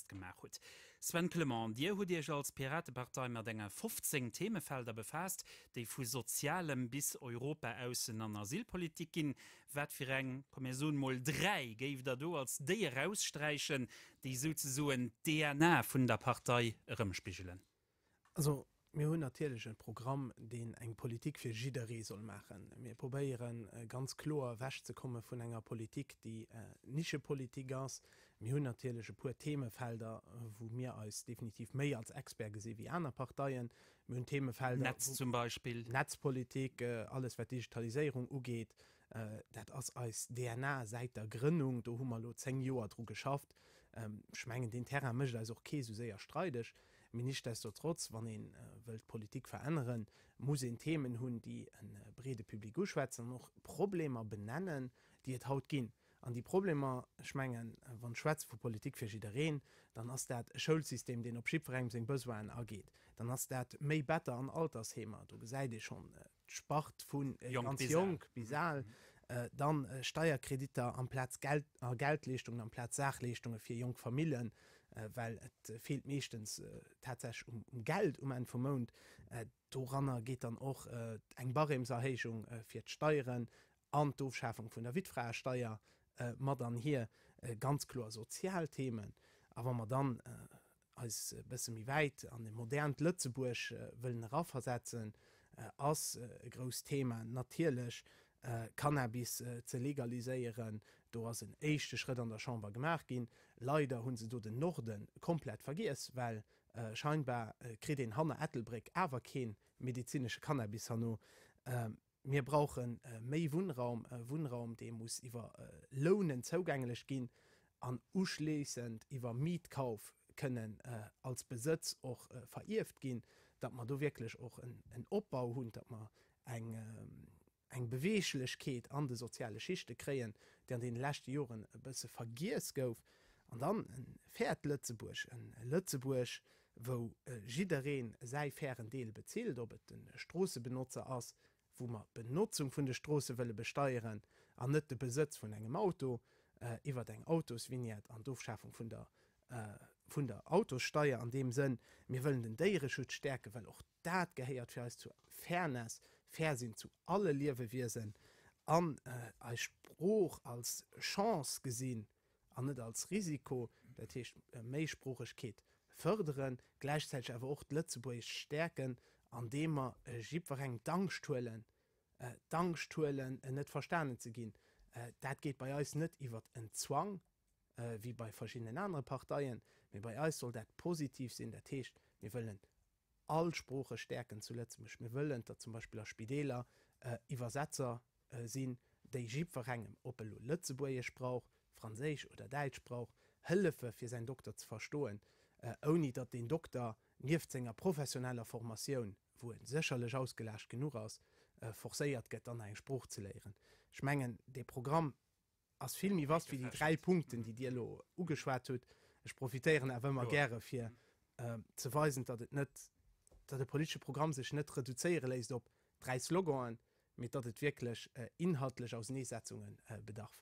gemaach hutt. Sven Clement, Dir hutt Iech als Piratepartei mat enge 15 Themefelder befaasst, déi vu Sozialem bis Europa-, Aussen an Asylpolitik ginn. Wat fir eng, komm mir soen emol dräi, géift Der do als déi eraussträichen, déi souzesoen d'DNA vun der Partei erëmspigelen? Also, mir hunn natierlech e Programm, deen eng Politik fir jidderee soll maachen. Mir probéiere ganz kloer ewechzekomme vun enger Politik, déi Nischepolitik ass. Mir hunn natierlech e puer Themefelder, wou mir eis definitiv méi als Expert gesi wéi aner Parteien. Mir hunn Themefelder, Netz zum Beispill. Netzpolitik, alles wat Digitaliséierung ugeet, dat ass eis DNA säit der Grënnung. Do hu mer elo zéng Joer dru geschafft. Ech mengen, deen Terrain mécht eis och kee sou séier streideg. Mee nichtsdestotrotz, wann ee wëllt d'Politik veränneren, muss een Themen hunn, déi e breede Public uschwätzen an och Problemer benennen, déi et haut ginn. An déi Problemer, ech mengen, wann schwätze vu Politik fir jiddereen, dann ass dat e Schoulsystem, deen op jiddwerengem seng Besoinen ageet, dann ass dat méi Better an Altersheemer, do gesäit ee schonn, D'Spart vu ganz jonk bis al, dann Steierkreditter amplaz Geld a Geldleeschtungen amplaz Saachleeschtunge fir jonk Famillen, well et feelt meeschtens tatsächlech um Geld um Enn vum Mount. Doranner geet dann och eng Barêmeserhéijung fir d'Steieren an d'Ofschafung vun der Wittfraesteier mat an hier. Ganz kloer sozial Themen. A wa mer dann eis e bësse méi wäit an e modernt Lëtzebuerg wëllen eraversetzen, ass e grousst Thema natierlech Cannabis ze legaliséieren. Do ass en éischte Schrëtt an der Chamber gemaach ginn. Leider hu se do den Norde komplett vergiess, well scheinbar kritt een hanner Ettelbréck awer kee medezinesche Cannabis herno. Mir brauche méi Wunnraum, e Wunnraum, dee muss iwwer Lounen zougänglech ginn an uschléissend iwwer Mietkauf kënnen als Besëtz och verierft ginn, datt mer do wierklech och en Opbau hunn, datt mer eng Beweeglechkeet an de soziale Schichte kréien, déi an deene leschte Joren e bësse vergiess gouf. An dann e fairt Lëtzebuerg, e Lëtzebuerg, wou jiddereen säi fairen Deel bezilt, ob et de Stroossebenotzer ass, wou mer d'Benotzung vun de Stroosse wëlle besteieren an net de Besëtz vun engem Auto iwwert eng Autosvignette an d'Ofschafung vun der vun der Autossteier an deem Sënn. Mir wëllen den Déiereschutz stäerken, well och. Dat gehéiert fir eis zur Fairness, fair sinn zu alle Liewewiesen an eis Sprooch als Chance gesinn an net als Risiko, dat heescht Méisproochegkeet fërderen, gläichzäiteg awer och d'Lëtzebuergescht stäerken, andeem mer jiddwerengem d'Angscht huelen, d'Angscht huelen net verstanen ze ginn. Dat geet bei eis net iwwert en Zwang, wéi bei verschiddenen anere Parteien, mee bei eis soll dat positiv sinn, dat heescht, mir wëllen All Sprooche stäerken zu Lëtzebuerg. Mir wëllen, datt zum Beispill a Spideeler Iwwersetzer sinn, déi jiddwerengem, ob e lo Lëtzebuergesch brauch, Franséisch oder Däitsch brauch, hëllefe fir säin Dokter ze verstoen, ouni datt deen Dokter nieft senger professioneller Formatioun, wou e sécherlech ausgelaascht genuch ass, forcéiert gëtt, dann nach eng Sprooch ze léieren. Ech mengen, dee Programm, ass vill méi vast wéi déi dräi Punkten, déi Dir elo ugeschwat hutt. Ech profitéieren awer ëmmer gäre fir ze weisen, datt et net, datt e politesche Programm sech net reduzéiere léisst op dräi Sloganen, mee datt et wierklech inhaltlech Auseneesetzunge bedarf.